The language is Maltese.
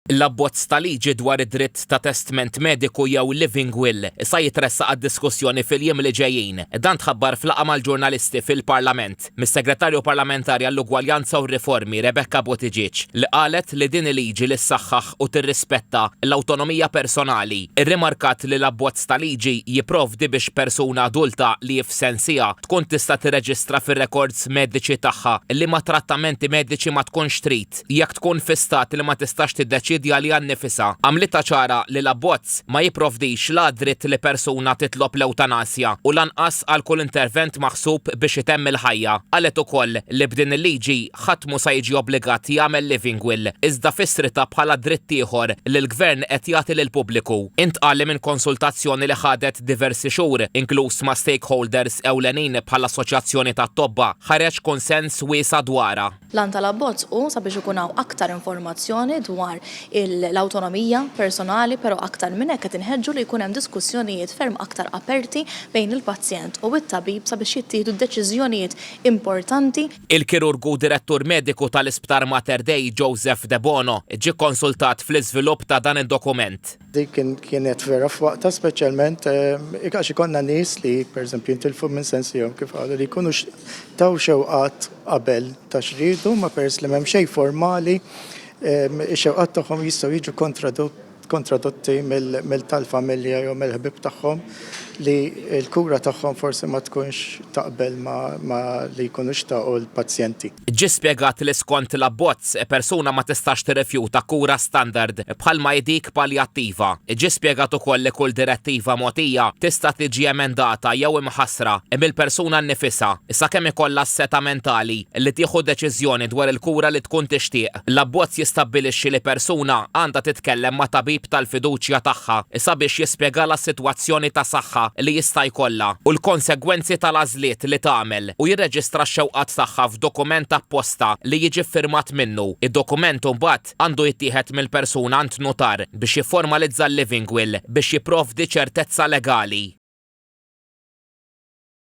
L-abbozz ta' liġi dwar id-dritt ta' testment mediku jew living will sa jitressaq għad-diskussjoni fil-jiem li ġejjin. Dan tħabbar f'laqgħa mal-ġurnalisti fil-Parlament, mis-Segretarju Parlamentari għall-Ugwaljanza u r-Riformi Rebecca Buttigieg li qalet li din il-liġi li ssaħħaħ u tirrispetta l-awtonomija personali. Irrimarkat li l-abbozz ta' liġi jipprovdi biex persuna adulta li hi f'sensiha tkun tista' tirreġistra fir-rekords mediċi tagħha liema trattamenti mediċi ma tkunx trid. jekk tkun fi stat li ma tistax tiddeċiedi għaliha nnifisha, għamlitha ċara li l-abbozz ma jipprovdix la għad-dritt li persuna titlob l-ewtanasja u lanqas għal kull intervent maħsub biex itemm il-ħajja. Qalet ukoll li b'din il-liġi ħadd mhu sa jiġi obbligat jagħmel living will, iżda fissritha bħala dritt ieħor li l-Gvern qed jagħti lill-pubbliku. Intqal li minn konsultazzjoni li ħadet diversi xhur, inkluż ma' stakeholders ewlenin bħall-Assoċjazzjoni tat-Tobba, ħareġ kunsens wiesa' dwarha. L-għan tal-abbozz hu sabiex ikun hawn aktar informazzjoni dwar l-awtonomija personali però aktar minn hekk qed inħeġġu li jkun hemm diskussjonijiet ferm aktar aperti bejn il-pazjent u t-tabib sabiex jittieħdu deċiżjonijiet importanti Il-kirurgu direttur mediku tal-Isptar Mater Dei Joseph Debono ġie kkonsultat fl-iżvilupp ta' dan id-dokument. Dik kienet vera f'waqtha speċjalment għax ikollna nies li pereżempju jintilfu minn sensihom kif qalu li jkunu taw xewqat qabel ta' x'riedu ma peress li m'hemm xejn formali ix-xewqat tagħhom jistgħu jiġu kontradotti mill tal-familja jew mill-ħbieb tagħhom. li l-kura tagħhom forsi ma tkunx taqbel ma' li jkunu xtaqu l-pazjenti. Ġie spjegat li skont l-abbozz, persuna ma tistax tirrifjuta kura standard bħalma hi dik paljattiva. Ġie spjegat ukoll li kull direttiva mogħtija tista' tiġi emendata jew imħassra mill-persuna nnifisha sakemm ikollha s-setgħa mentali li tieħu deċiżjoni dwar il-kura li tkun tixtieq. L-abbozz jistabbilixxi li persuna għandha titkellem ma' tabib tal-fiduċja tagħha sabiex jispjegalha s-sitwazzjoni ta' saħħa li jista' jkollha u l-konsegwenzi tal-għażliet li tagħmel u jirreġistra x-xewqat tagħha f'dokument apposta li jiġi ffirmat minnu. Id-dokument imbagħad għandu jittieħed mill-persuna għand nutar biex jifformalizza l-living will biex jipprovdi ċertezza legali.